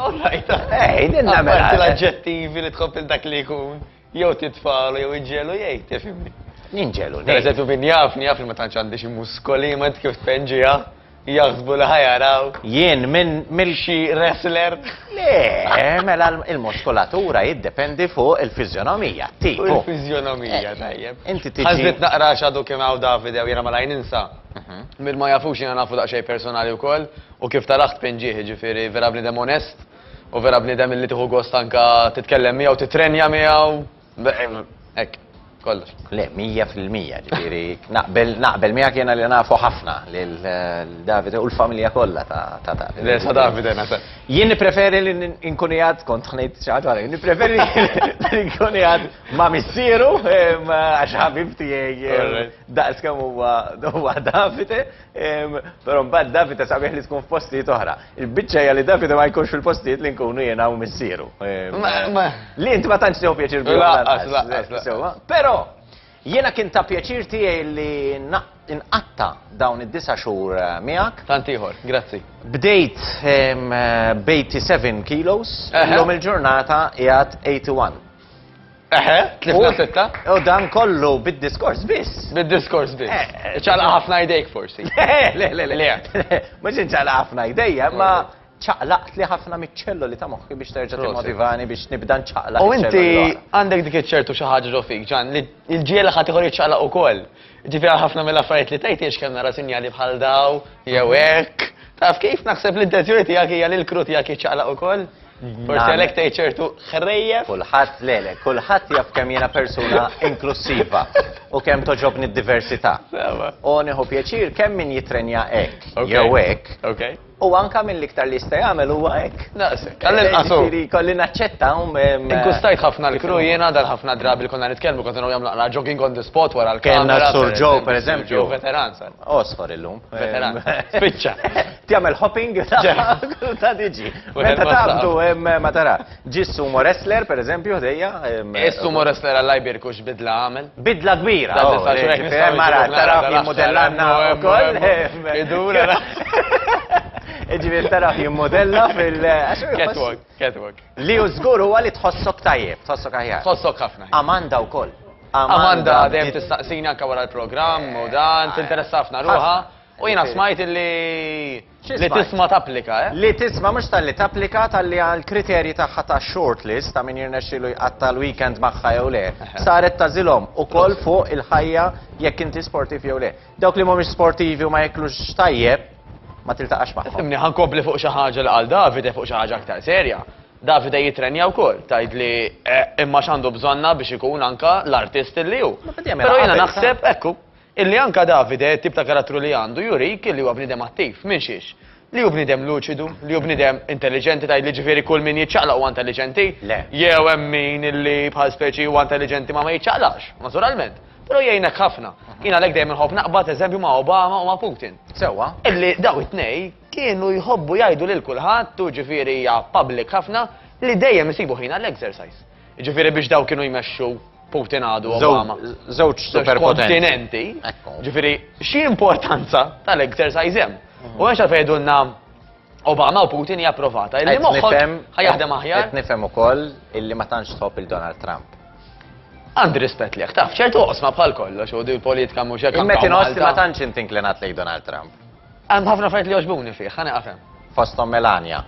All right. Ej, dinna mela. Għamil l-agġettivi li tħobb il-dak li jkun, jew titfalu, jew iġġelu, jgħid, tifimni. Ninġelu, Per eżempju, min jafni, jafni ma tantx għandi xi muskoli, ma kif tpenġija. Jaħsbu li ħa jarawk. Jien minn mill. Xi wrestler? Le, mela l-muskulatura jiddependi fuq il-fiżjonomija, t-tip. Fuq il-fiżjonomija, tajjeb. Inti tiġi. Ħassejt naqra għax għadu kemm hawn Davide u jiena malajr ninsa. Min ma jafux jiena nafu daqsxejn personali wkoll u kif tarah tpin ġieħ, jiġifieri vera bniedem onest u vera bniedem li tieħu gost anke titkellem miegħu, titrenja miegħu. Hekk, kollox. Le, mija fil-mija, ġifieri naqbel naqbel miegħek jiena li nafu ħafna lil Davide u l-familja kollha ta' ta' Davide. Le, ta' Davide naħseb. Jien nippreferi li nkun qiegħed kont ħa ngħid xi ħaġa oħra, nippreferi li nkun qiegħed ma' missieru għax ħabib tiegħi daqs kemm huwa Davide. Però mbagħad Davide sabiħ li tkun f'postijiet oħra. Il-biċċa hija li Davide ma jkunx fil-postijiet li nkunu jiena u missieru. Li int ma tantx tew pjaċir bihom. Laqqas, laqqas. Però jiena kien ta' pjaċir tiegħi li nqatta' dawn id-disa' xhur eh, miegħek. Tant ieħor, grazzi. Bdejt b'87 kilos, illum il-ġurnata qiegħed 81. Eħe, tlifna sitta. U dan kollu bid-diskors biss. Bid-diskors biss. Eh, eh, ċaqla eh. ħafna jdejk forsi. Le, le, le. Mhux inċaqla ħafna jdejja, ma ċaqlaqt li ħafna miċċello li ta' moħħi biex terġa' timmotivani biex nibda nċaqla. U inti għandek dik iċ-ċertu xi ħaġa ġo fik, ġan, li l-ġiela ħadd iħor jiċċaqlaq ukoll. Ġifier ħafna mill-affarijiet li tgħid kemm nara sinjali bħal daw, jew hekk. Taf kif naħseb l-intenzjoni tiegħek hija li l-kru tiegħek jiċċaqlaq ukoll? Forsi għalhekk tgħid ċertu ħrejjef. Kulħadd le le, kulħadd jaf kemm jiena persuna inklussiva u kemm toġobni d-diversità. U nieħu pjaċir kemm min jitrenja hekk jew hekk. U anke mill-iktar li jista' jagħmel huwa hekk. Naqsek. Jiġifieri jkolli naċċetta. Inkkustajt ħafna l-crew jiena għal ħafna drabi li konna nitkellmu kont naraw jagħmlu naqra jogging on the spot wara l-kamra. Kellna s-Sur Joe pereżempju. Veteran sar. Għosfar illum. Veteran. Spiċċa. Tjagħmel hopping? Ta' diġi. Meta taqbdu ma tara. Ġi sumo wrestler pereżempju ħdejja. Is-sumo wrestler għall-lajbir kux bidla għamel. Bidla kbira. Mara tara jimmodellanna wkoll. Idur. Ġifier tara jimmodella fil Catwalk, catwalk. Li hu żgur huwa li tħossok tajjeb, tħossok aħjar. Tħossok ħafna. Amanda wkoll. Amanda dejjem tistaqsini anke wara l-programm u dan, tinteressa ħafna ruħha. U jiena smajt li li tisma' tapplika, eh? Li tisma' mhux talli tapplika, talli għall-kriterji tagħha ta' shortlist ta' min jirnexxielu jqatta' l-weekend magħha jew le, saret tagħżilhom ukoll fuq il-ħajja jekk inti sportiv jew le. Dawk li mhumiex sportivi u ma jeklux tajjeb, ma tiltaqax magħhom. Fimni, ħa nkompli fuq xi ħaġa li qal Davide fuq xi ħaġa aktar serja. Davide jittrenja wkoll, tgħidli, imma x'għandu bżonnha biex ikun anke l-artist li hu. Però jiena naħseb, ekku, Illi anke Davide, it-tip ta' karattru li għandu, jurik illi huwa bniedem attiv. Minn xiex? Li hu bniedem luċidu, li hu bniedem intelliġenti, tgħidli ġifieri kull min jiċċaqlaq huwa intelliġenti? Le. Jew hemm min illi bħal speċi huwa intelliġenti ma ma jiċċaqlaqx, naturalment. Però jgħinek ħafna. Jien għalhekk dejjem inħobb naqbad eżempju ma' Obama u ma' Putin. Sewwa. Illi dawn it-tnejn kienu jħobbu jgħidu lil kulħadd, u ġifieri hija public ħafna, li dejjem isibu ħin għall-exercise. Ġifieri biex daw kienu jmexxu Putin għadu Obama. Żewġ superkontinenti. Ġifieri xi importanza tal-exercise hemm. U għax għalfejn jgħidulna Obama u Putin hija approvata. Illi moħħhom ħajaħdem aħjar. Qed nifhem ukoll illi ma tantx tħobb il-Donald Trump. Għandi rispett liħ, taf, ċertu osma bħal kollox u di politika mhux hekk. Imma tinħoss li ma tantx intinklinat lejn Donald Trump. Hemm ħafna affarijiet li jogħġbuni fih, ħa nieqaf hemm. Fosthom Melania.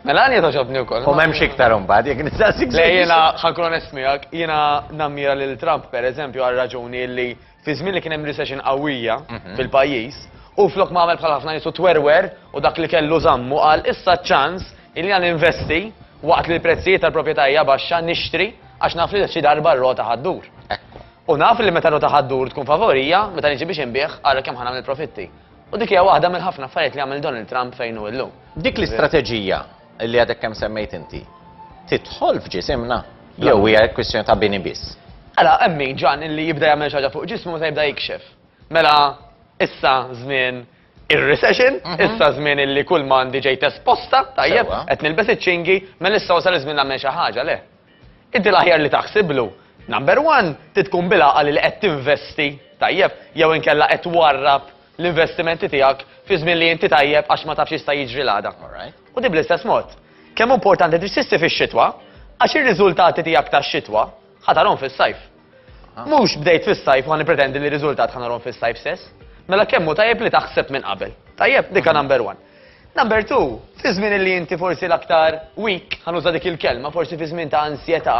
Melania togħġobni wkoll. U m'hemmx iktar imbagħad jekk nistaqsik. Le jiena ħa nkun onest miegħek, jiena nammira lil Trump pereżempju għal raġuni li fi żmien li kien hemm recession qawwija fil-pajjiż, hu flok ma għamel bħal ħafna nies u twerwer u dak li kellu żammu qal issa ċ-ċans li jiena ninvesti waqt li l-prezzijiet tal-proprjetà hija baxxa nixtri għax naf li xi darba r-rota ħa ddur. U naf li meta r-rota ħa ddur tkun favorija meta niġi biex inbigħ ara kemm ħa nagħmel profitti. U dik hija waħda mill-ħafna affarijiet li għamel Donald Trump fejn hu llum. Dik l-istrateġija li għadek kemm semmejt inti tidħol f'ġisimna jew hija kwistjoni ta' bini biss? Għala, mela, emmi ġan illi jibda jagħmel xaġa fuq ġismu meta jibda jikxef. Mela, issa żmien ir-recession, mhm. issa żmien illi kull ma għandi ġejt esposta, tajjeb, qed nilbes iċ-ċingi, mela issa wasal iż-żmien nagħmel xi ħaġa, le. Inti l-aħjar li taħsiblu, number one, trid tkun bil-għaqal li qed tinvesti tajjeb jew inkella qed twarrab l-investimenti tiegħek fi żmien li inti tajjeb għax ma tafx x'jista' jiġri l-għada. U din bl-istess mod. Kemm hu importanti li tixtisti fix-xitwa għax ir-riżultati tiegħek tax-xitwa ħa tarahom fis-sajf. Mhux bdejt fis-sajf u ħa nippretendi li r-riżultat ħa narhom fis-sajf stess. Mela kemm hu tajjeb li taħseb minn qabel. Tajjeb, dik hija number one. Number two, fi żmien li inti forsi l-aktar weak, ħa nuża dik il-kelma, forsi fi żmien ta' ansjetà,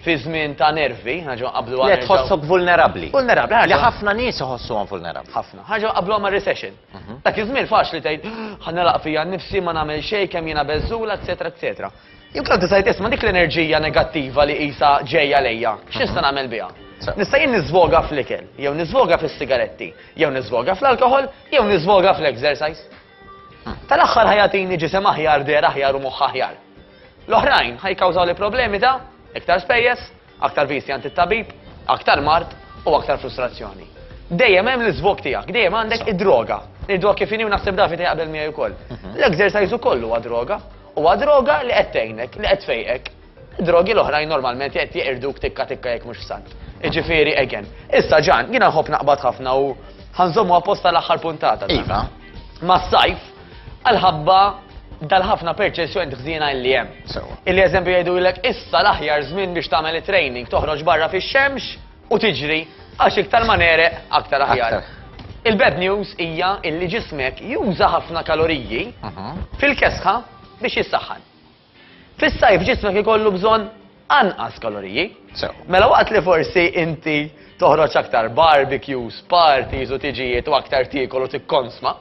fi żmien ta' nervi, ħa nerġgħu nqabblu għal. Le tħossok vulnerabbli. Vulnerabbli, ħa. Li ħafna nies iħossuhom vulnerabbli. Ħafna. Ħa nerġgħu nqabblu ma' recession. Dak iż-żmien faċli tgħid, ħa nilaq fija nnifsi, ma nagħmel xejn, kemm jiena beżżula, eċċetera, eċċetera. Jekk inti tgħid isma' dik l-enerġija negattiva li qisha ġejja lejja, x'nista' nagħmel biha? Nista' jien niżvoga fl-ikel, jew niżvoga fis-sigaretti, jew niżvoga fl-alkoħol, jew niżvoga fl-exercise. Tal-aħħar ħa jagħtini ġisem aħjar, dehra aħjar u moħħ aħjar. L-oħrajn ħa jikkawżawli problemi ta' iktar spejjeż, Aktar viżti għand it-tabib, aktar mard u aktar frustrazzjoni. Dejjem hemm l-iżvog tiegħek, dejjem għandek id-droga. Ngħiduha kif inhi u naħseb David jaqbel miegħi wkoll. L-exercise ukoll huwa droga. Huwa droga li qed tgħinek, li qed tfejqek. Id-drogi l-oħrajn normalment qed jeqirduk tikka tikka jekk mhux f'salt. Jiġifieri again. Issa Ġan, jiena nħobb naqbad ħafna u ħa nżommu apposta l-aħħar puntata tagħna. Iva. Mas-sajf, Għalħabba dal-ħafna perċessjoni tħżina illi hemm. Sewa. Illi eżempju jgħidulek issa l-aħjar żmien biex tagħmel it-training, toħroġ barra fix-xemx u tiġri għax iktar ma nereq aktar aħjar. Il-bad news hija illi ġismek juża ħafna kaloriji mhm. fil-kesħa biex jissaħħan. Fis-sajf ġismek ikollu bżonn anqas kaloriji. Sew. Mela waqt li forsi inti toħroġ aktar barbecues, parties u tiġijiet u aktar tiekol u tikkonsma,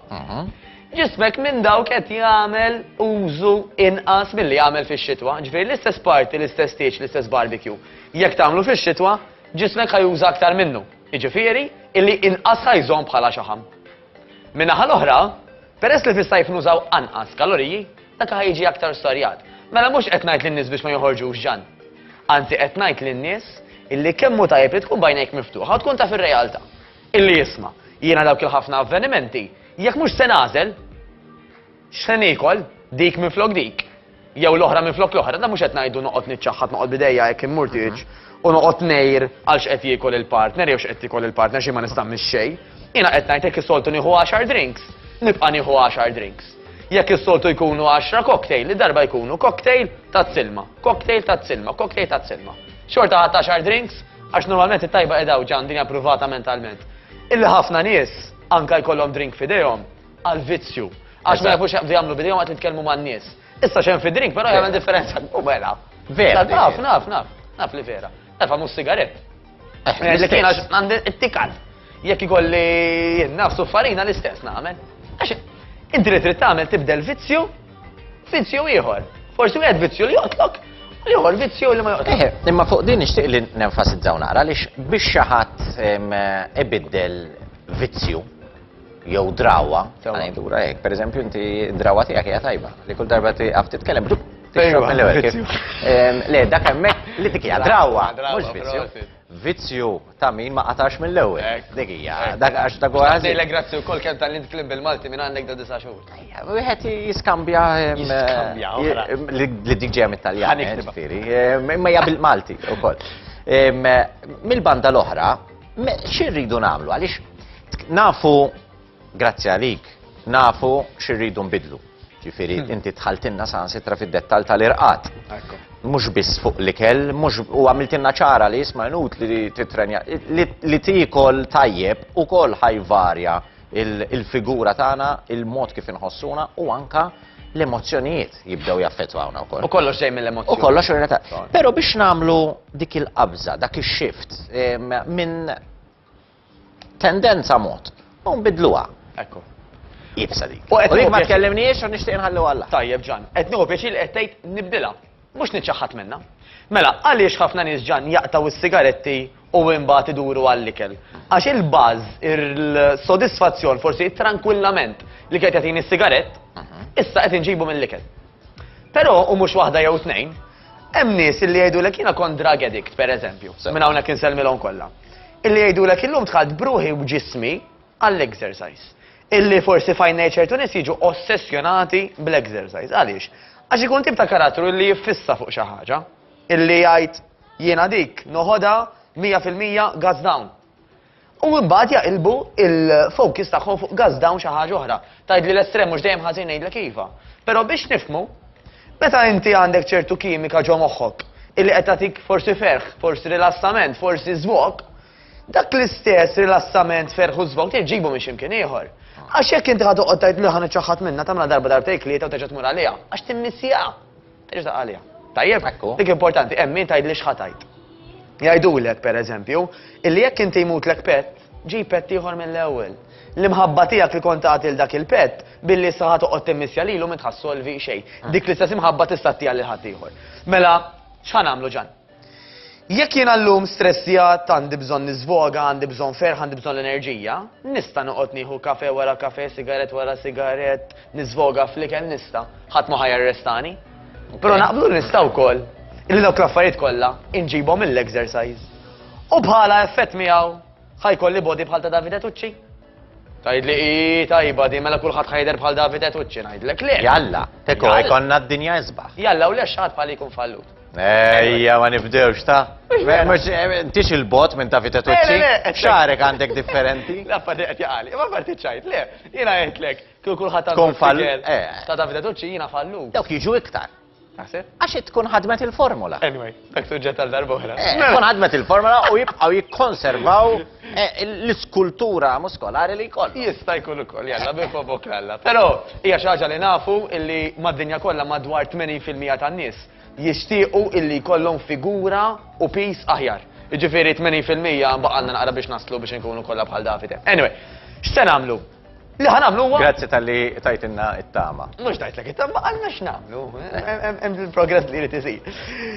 ġismek minn dawk qed jagħmel użu inqas milli jagħmel fix-xitwa. Ġifieri l-istess party, l-istess tieġ, l-istess barbecue, jekk tagħmlu fix-xitwa, ġismek ħa juża aktar minnu. Jiġifieri illi inqas ħa jżomm bħala xaħam. Min-naħa l-oħra, peress li fis-sajf nużaw anqas kaloriji, dak li ħa jiġi aktar storjat. Mela mhux qed ngħid lin-nies biex ma joħorġux ġann. Anzi qed ngħid lin-nies illi kemm hu tajjeb li tkun b'għajnejk miftuħa u tkun taf ir-realtà. Illi isma', jiena dawk il-ħafna avvenimenti, jekk mhux se nagħżel, X'se niekol? Dik minflok dik? Jew l-oħra minflok l-oħra? Dan mhux qed ngħidu noqgħod niċċaħħad, noqgħod b'idejja hekk immurtieġ u noqgħod ngħir għal x'qed jiekol il-partner jew x'qed tiekol il-partner xi ma nistagħmilx xejn. Jiena qed ngħid jekk is-soltu nieħu għaxar drinks, nibqa' nieħu għaxar drinks. Jekk is-soltu jkunu għaxra cocktail, id-darba jkunu cocktail taz-silma, cocktail taz-silma, cocktail taz-silma. Xorta ħadd għaxar drinks għax normalment it-tajba qed hawn ġan dinja pruvata mentalment. Illi ħafna nies anke jkollhom drink f'idejhom għal vizzju. Għax ma jafux jaqbdu jagħmlu bidejhom għat nitkellmu man-nies. Issa xem fi drink, però jagħmel differenza. U mela. Vera. Naf, naf, naf. Naf li vera. Naf għamu sigaret. Eh, eh, li kien għax għandi it-tikat. Jekk ikolli jinnaf suffarina l-istess nagħmel. Għax inti li trid tagħmel tibdel vizzju, vizzju ieħor. Forsi wieħed vizzju li joqtlok, li ieħor vizzju li ma joqtlok. Eh, imma fuq din nixtieq li nenfasizzaw nara li biex xi ħadd ibiddel vizzju jew drawwa, ngħidulha hekk. Pereżempju inti d-drawwa tiegħek hija tajba, li kull darba tieqaf titkellem bdup tixrob mill-ewwel kif. Le, dak hemmhekk li dik hija drawwa, mhux vizzju. Vizzju ta' min ma qatax mill-ewwel. Dik hija, dak għax dak huwa ħażin. Ngħidlek grazzi wkoll kemm tallimt kliem bil-Malti minn għandek dawn disa' xhur. Wieħed jiskambja li dik ġejja mit-Taljan, ġifieri. Imma hija bil-Malti wkoll. Mill-banda l-oħra, xi rridu nagħmlu għaliex Nafu, grazzi għalik, nafu xirridu nbidlu. Ġifiri, hmm. inti tħaltinna san sitra fid-dettal tal-irqat. Mux biss fuq li kell, mux u għamiltinna ċara li jisma nut li titrenja, li tikol tajjeb u kol ħajvarja il-figura tagħna, il-mod kif inħossuna u anka l-emozjonijiet jibdew jaffettwawna wkoll. U kollox ġej mill-emozjoni. U kollox ta' Però biex nagħmlu dik il-qabża, dak ix-shift minn tendenza mod u nbiddluha. Ekku. Iebsa dik. U jekk ma tkellimniex u nixtieq inħalliha għall-aħħar. Tajjeb Ġann, qed nieħu pjaċir li qed tgħid nibdilha, mhux niċċaħħad minnha. Mela, għaliex ħafna nies Ġann jaqtgħu s-sigaretti u imbagħad iduru għall-ikel? Għax il-buzz, il-sodisfazzjon, forsi it-trankwillament li kien qed jagħtini s-sigarett, issa qed inġibu mill-ikel. Però, u mhux waħda jew tnejn, Hemm nies illi jgħidulek jiena kont drug addict, pereżempju, minn hawnhekk insellmilhom kollha. Illi jgħidulek illum dħalt b'ruħi u b'ġismi għall-exercise. Illi forsi f'għajnej ċertu nies jiġu ossessjonati bl-exercise. Għaliex? Għax ikun tip ta' karattru illi jiffissa fuq xi ħaġa. Illi jgħid jiena dik noħodha 100% guts down. U imbagħad jaqilbu l-focus tagħhom fuq gas down xi ħaġa oħra. Tgħidli l-estrem mhux dejjem ħażin ngħidlek iva. Però biex nifhmu, meta inti għandek ċertu kimika ġo moħħok illi qed tagħtik forsi ferħ, forsi rilassament, forsi żvog, dak l-istess rilassament, ferħ u żvog trid ġġibu minn xi mkien ieħor. Għax jekk inti ħa toqgħod tgħid le ħa niċċaħħad minnha tagħmilha darba darbtejn tlieta u terġa' tmur għaliha, għax timmissieha. Terġa' taqra' għaliha. Tajjeb? Ekku. Dik importanti, hemm min tgħidli x'ħa tgħid. Jgħidulek, per eżempju, illi jekk inti jmutlek pett, ġib pett ieħor mill-ewwel. L-imħabba tiegħek li kont tagħti lil dak il-pett, billi issa ħa toqgħod timmissja lilu m'int ħa ssolvi xejn. Dik l-istess imħabba tista' ttiha lil ħaddieħor. Mela, x'ħa nagħmlu Ġann? Jekk jiena llum stressjat, għandi bżonn niżvoga, għandi bżonn ferħ, għandi bżonn l-enerġija, nista' noqgħod nieħu kafe wara kafe, sigarett wara sigarett, niżvoga fl-ikel nista', ħadd ma ħajarrestani. Però naqblu li nista' wkoll li dawk l-affarijiet kollha inġibhom mill-exercise. U bħala effett miegħu ħajkolli body bħal ta' Davide Tucci. Tgħidli hi tajba din mela kulħadd ħa jidher bħal David Etucci ngħidlek le. Jalla, teko jkollna d-dinja isbaħ. Jalla u le x'għad bħali jkun fallut. Ejja, ma nibdewx ta' Tix il-bot minn ta' fitaċċi, xarek għandek differenti. La fadi għet jgħali, ma parti ċajt, le, jina għetlek, kull kullħat għandek. Kun fall. Eh. Ta' ta' fitaċċi jina fallu. Dawk jiġu iktar. Naħseb? Għax hi tkun ħadmet il-formola. Anyway, dak suġġett għal darba oħra. Eh, tkun ħadmet il-formola u jibqgħu jikkonservaw eh, l-iskultura muskolari li jkoll. Jista' jkun ukoll, jalla bi fobok l-alla. Però hija xi ħaġa li nafu illi mad-dinja kollha madwar 80% tan-nies jixtiequ illi jkollhom figura u pis aħjar. Jiġifieri 80% baqalna naqra biex naslu biex inkunu kollha bħal Davide. Anyway, x'se nagħmlu? Li ħan għamlu għu. Grazzi tal-li tajtinna it-tama. Mux tajtlek it-tama, għanna x'namlu. Hemm il-progress li jrid isir.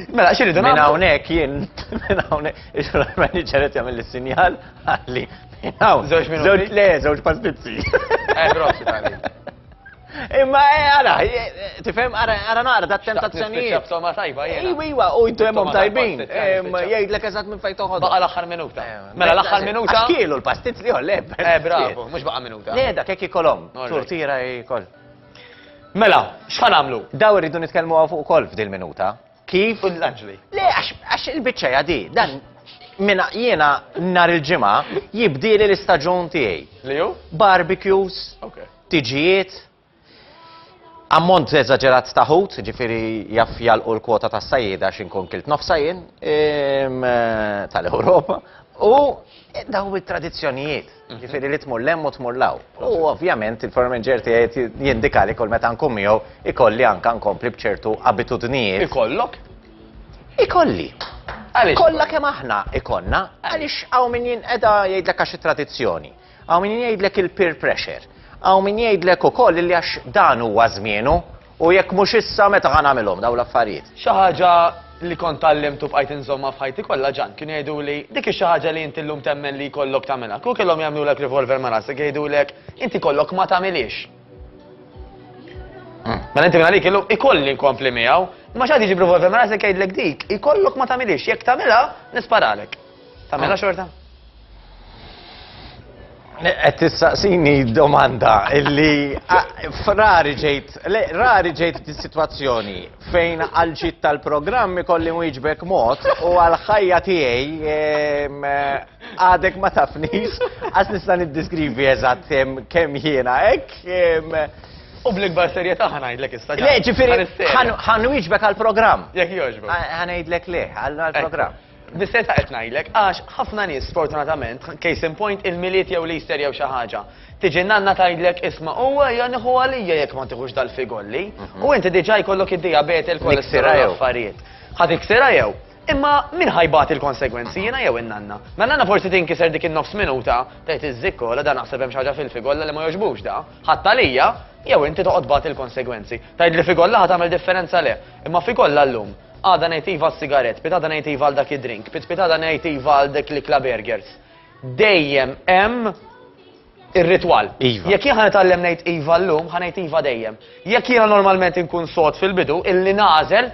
Mela, xirridu nagħmlu. Minn hawnhekk jien, minn hawnhekk, il-manager qed jagħmel is-sinjal għalli. Żewġ minuti. Le, żewġ pastizzi. Eh, grossi tagħli. Imma eh, ara, eh, tifhem, ara, ara naqra dat tentazzjonijiet. B'soma tajba jiena. Iwa, iwa, u jdemhom tajbin. Jgħidlek eżatt minn fejn toħodha. Baqa' l-aħħar minuta. Eh, mela, mela l-aħħar minuta. Kielu l-pastizz li le. Eh, bravo, mhux baqa' minuta. Le, dak hekk ikolhom. Turtira jkoll. Mela, x'ħan għamlu? Daw irridu nitkellmu għaw fuq ukoll f'dil minuta. Kif? U l-anġli. Le, għax il-biċċa jadi, dan minna jiena nar il-ġimgħa jibdieli l-istaġun tiegħi. Li ju? Barbecues. Okay. ħtiġijiet, ammont eżaġerat ta' ħut, ġifieri jaf jalqu l-kwota tas-sajjieda għax inkun kilt nofsha jien ehm, tal-Ewropa, u daw it-tradizzjonijiet, mhm. ġifieri li tmur lemm u tmur law. U ovvjament il-formenġer tiegħi jindika li kull meta nkun miegħu ikolli anke nkompli b'ċertu abitudnijiet. Ikollok? Ikolli. Kollha kemm aħna ikonna, għaliex hawn min jinqeda jgħidlek għax it-tradizzjoni. Hawn min jgħidlek il-peer pressure. Hawn min jgħidlek ukoll illi għax dan huwa żmienu u jekk mhux issa meta ħa nagħmilhom dawn l-affarijiet. Xi ħaġa li kont tgħallimt u bqajt inżommha f'ħajti kollha ġan. Kienu jgħiduli, dik hi xi ħaġa li inti llum temmen li jkollok tagħmilha. Kieku kellhom jagħmlulek revolver ma' rasek jgħidulek, inti jkollok ma tagħmilhiex. Hmm. Mela inti minn għalik illum ikolli nkompli miegħu, ma x'għad jiġi b'revolver ma' rasek jgħidlek dik, ikollok ma tagħmilhiex, jekk tagħmilha nisparalek. Tagħmilha xorta? Qed tistaqsini domanda illi rari ġejt, rari ġejt dis-sitwazzjoni fejn għal ġid tal-programm ikolli wieġbek mod u għal ħajja tiegħi għadek ma tafnix għax nista' niddiskrivi eżatt kemm jiena hekk U bl-ikbar serjetà ħanajdlek issa. Le, ġifieri ħanwiġbek għall-programm. Jekk jogħġbok. Ħanajdlek le, għall-programm. Bis-serjetà qed ngħidlek, għax ħafna nies sfortunatament, case in point, il-Milied jew l-Easter jew xi ħaġa, tiġi nanna tgħidlek isma' u ejja nieħu għalija jekk ma tieħux dal-figolli. U inti diġà jkollok id-dijabete, il-kolesterol, l-affarijiet. Ħa tiksirha jew? Imma min ħa jbati l-konsegwenzi, jiena jew in-nanna? Ma n-nanna forsi tinkiser dik in-nofs minuta, tgħid iż-żikkola da naħseb hemm xi ħaġa fil-figolla li ma jogħġbux da, ħadd għalija, jew inti toqgħod tbati l-konsegwenzi. Tgħidli figolla ħa tagħmel differenza le, imma figolla llum, Għada ngħid iva għas-sigarett, pitgħada ngħid iva għal dak id-drink, pitpitgħada ngħid iva għal dik l-ikla burgers. Dejjem hemm ir-ritwal. Iva. Jekk jien ħanitgħallem ngħid iva llum, ħanejt iva dejjem. Jekk jiena normalment inkun sod fil-bidu, illi nażel,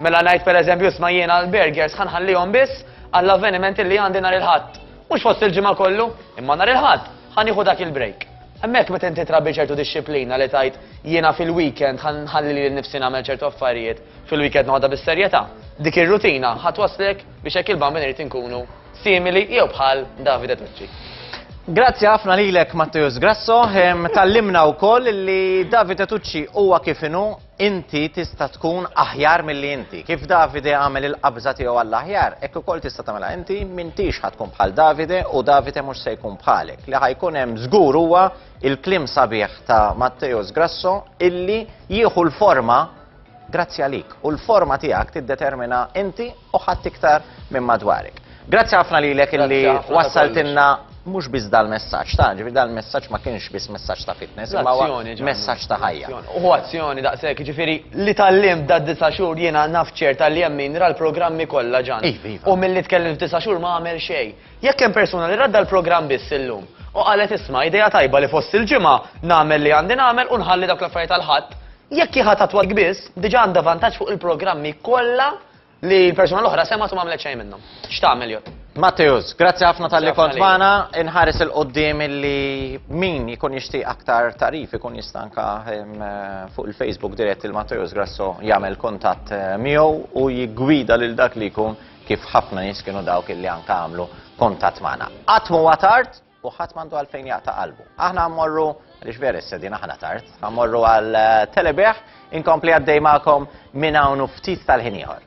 mela ngħid pereżempju sma jiena l-burgers ħanħallihom biss għall-avveniment illi għandi nhar il-ħadd. Mhux fost il-ġimgħa kollu, imma nhar il-ħadd ħanieħu dak il-break. Hemmhekk meta inti trabbi ċertu dixxiplina li tajt jiena fil-weekend ħalli li nifsi nagħmel ċertu affarijiet, Fil-weekend noħodha bis-serjetà. Dik ir-rutina ħa twasslek biex hekk il-bambin irid inkunu simili jew bħal Davide Tucci. Grazzi ħafna lilek Matteus Grasso, tallimna wkoll li Davide Tucci huwa kif inhu inti tista' tkun aħjar milli inti. Kif Davide għamel il-qabża tiegħu għall-aħjar, hekk ukoll tista' tagħmilha inti m'intix ħad tkun bħal Davide u Davide mhux se jkun bħalek. Li ħajkun hemm żgur huwa il-klim sabiħ ta' Matteus Grasso illi jieħu l-forma Grazzi għalik u l-forma tiegħek tiddetermina inti u ħadd iktar minn madwarek. Grazzi ħafna lilek illi wassaltilna mhux biss dal-messaġġ ta' ġifi dal-messaġġ ma kienx biss messaġġ ta' fitness, imma messaġġ ta' ħajja. U azzjoni daqshekk, ġifieri li tallim da' disa' xhur jiena naf ċerta li hemm min ra l-programmi kollha ġan. Iva, iva. U milli tkellim f'disa' xhur ma għamel xejn. Jekk hemm persuna li radda l-programm biss illum u qalet isma' idea tajba li fost il-ġimgħa nagħmel li għandi nagħmel u nħalli dawk l-affarijiet għall-Ħadd, jekk hi ħadd attwal kbiss, diġà għandha vantaġġ fuq il-programmi kollha li l-persuna l-oħra semgħet u m'għamlet xejn minnhom. X'tagħmel jott? Matthews, grazzi ħafna tal-li kont magħna, inħares il-qoddim li min jkun jixtieq aktar tarif ikun jistanka ehm, fuq il-Facebook dirett il-Matthews Grasso jagħmel kuntatt eh, miegħu u jiggwida lil dak li jkun kif ħafna nies kienu dawk illi anka għamlu kuntatt magħna. Qatt m'huwa tard u ħadd m'għandu għalfejn jaqta' qalbu. Aħna mmorru għaliex vera s-sedin aħna tard, mmorru għal eh, telebeħ, inkompli għaddej magħkom minn hawn ftit tal-ħin ieħor.